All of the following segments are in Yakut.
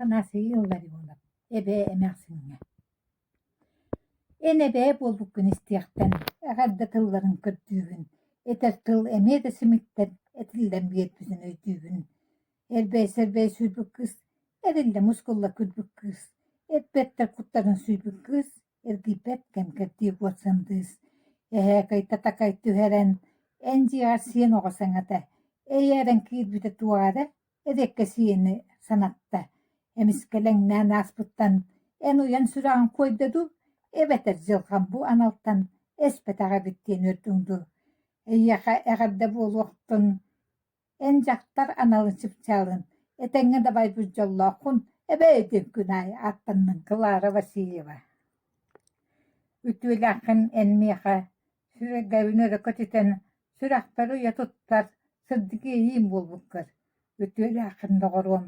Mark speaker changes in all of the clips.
Speaker 1: Анасия Илларионова Эбээ эмээхсиҥҥэ Эн эбээ буолбуккун истиэхтэн, эҕэрдэ тылларын көрдүүгүн, этэр тыл эмиэ да симиктэн, этиллэн биэрбитин өйдүүгүн. Эрбэй-сэрбэй сүүрбүт кыыс, эриллэ мускулла күрбүт кыыс, эт бэртэр куттарын сүүрбүт кыыс Эргийбэт кэм кэрдии куот сандыыс, эһээкэйтэ-такай түһэрэн, эн дьиэҕэр сиэн оҕо саҥата, «Эйэ» эрэн киирбитэ туоҕа эрэ, эриэккэсийэни санатта, эмискэлэҥнээн ааспыттан эн уйан сүрэҕиҥ куойда дуу, эбэтэр дьылҕам бу аналтан эспэтэх эбит диэн үөрдүҥ дуу, эйиэхэ эҕэрдэ буолуохтун Эн дьахтар аналы чыпчаалын, этэҥҥэ дабайбыт дьоллооххун, эбээ этим күн аайы ааттаннын Клара Васильева Үтүөлээххин эн миэхэ, сүрэгэбин өрө көтүтэн, сүрэхпэр уйа туттар, сырдык иэйиим буолбуккар. Үтүөлээххин, доҕоруом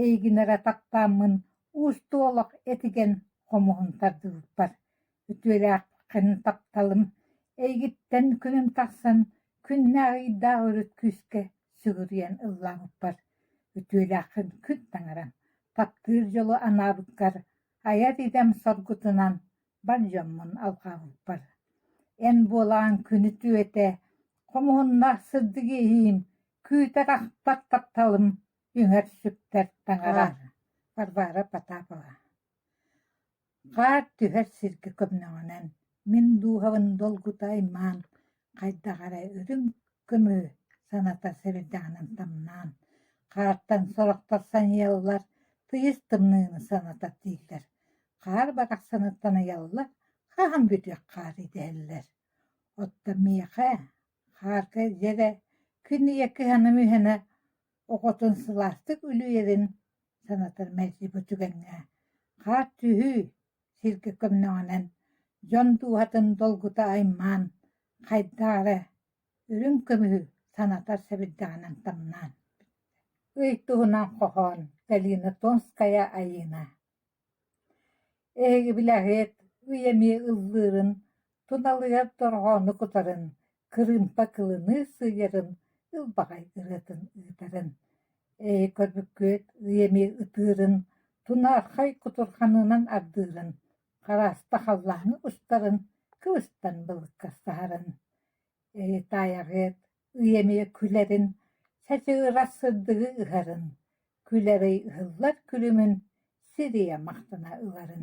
Speaker 1: Эйигин эрэ таптааммын уустуолох этигэн хомуһун тардыбыппар, үтүөлээххин тапталым, эйигиттэн күнүм тахсан күннээх-ыйдаах өрүт күүскэ сүгүрүйэн ыллаабыппар, үтүөлээххин күн таҥарам, таптыыр дьолу анаабыккар айар идэм соргутунан бар дьоммун алҕаабыппар, эн буолаҕын күнү түөтэ, хомуһуннаах сырдык иэһиим, күүтэр-ахпар тапталым Үҥэр сүктэр таҥара Варвара Потапова Хаар түһэр сиргэ көмнөҕүнэн Мин дууһабын долгута аймаан Хайдах эрэ үрүҥ көмү Саната сэбирдэҕинэн тамнаан Хаартан сорохтор саныйаллар Тыйыс тымныыны саната тиийдэр Хаар барахсаныттан ыйаллар Хаһан бүтүөх хаар идэһэллэр Оттон миэхэ Хаарга дьэ эрэ күн ийэ кыһана-мүһэнэ оҕотун сылаастык үлүүйэрин санатар мэлдьи түгэҥҥэ хаар түһүү сиргэ көмнөҕүнэн дьон дууһатын долгута аймаан хайдаары үрүҥ көмүһү санатар сэбирдэҕинэн тамнаан ый туһунан хоһоон Галина Томская Айыына Эһиги билэҕит, үйэ эмиэ ыллыырын, туналыйар дорҕоону кутарын, кырыымпа кылыныы сыыйарын, ылбаҕай ырыатын ыытарын, эһи көрбүккүт, үйэ эмиэ ытыырын, тунаархай кутурҕанынан ардыырын, харааста халлааҥҥа устарын, кыбыстан былыккастаһарын, эһи таайаҕыт Ый эмиэ күлэрин, чачыгырас сырдыгы ыһарын, күл эрэй ыһыллар күлүмүн сир ийэ махтана ыларын